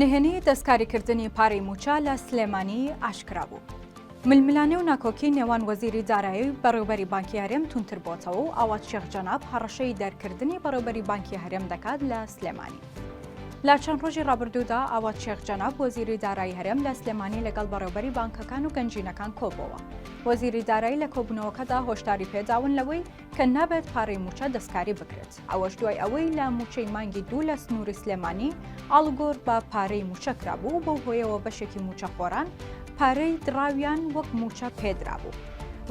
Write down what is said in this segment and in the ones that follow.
نهێنی دەستکاریکردنی پارەی مووچە لە سلێمانی ئاشکرا بوو. ململانێ و ناکۆکی نێوان وەزیری دارایی و بەڕێوبەری بانکی هەرێم تونتر بۆتەوە و ئاوات شێخ جەناب هەڕەشەی دەرکردنی بەڕێوبەری بانکی هەرێم دەکات لە سلێمانی. لە چەند ڕۆژی ڕابردوودا ئاوات شێخ جەناب وەزیری دارایی هەرێم لە سلێمانی لەگەڵ بەڕێوبەری بانکەکان و گەنجینەکان کۆبۆوە. وەزیری دارایی لە کۆبوونەوەکەدا هۆشداری پێداون لەوەی کە نابێت پارەی مووچە دەستکاری بکرێت. ئەوەش دوای ئەوەی لە مووچەی مانگی دوو لە سنووری سلێمانی ئاڵوگۆر بە پارەی مووچە کرابوو بەو هۆیەوە بەشێکی مووچەخۆران پارەی دراویان وەک مووچە پێدرابوو.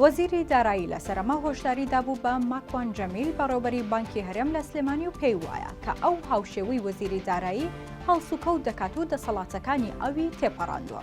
وەزیری دارایی لە سەرەما هۆشداری دابوو بە ماکوان جەمیل بەڕێوبەری بانکی هەرێم لە سلێمانی و پێی وایە کە ئەو هاوشێوەی وەزیری دارایی هەڵسوکەوت دەکات و دەسەڵاتەکانی ئەوی تێپەڕاندووە.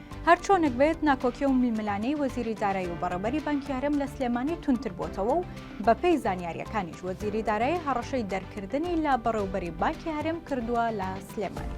هەرچۆنێک بێت ناکۆکی و میلملانێی وەزیری دارایی و بەڕێوبەری بانکی هەرێم لە سلێمانی تونتر بۆتەوە و بەپێی زانیاریەکانیش وەزیری دارایی هەڕەشەی دەرکردنی لە بەڕێوبەری بانکی هەرێم کردووە لە سلێمانی.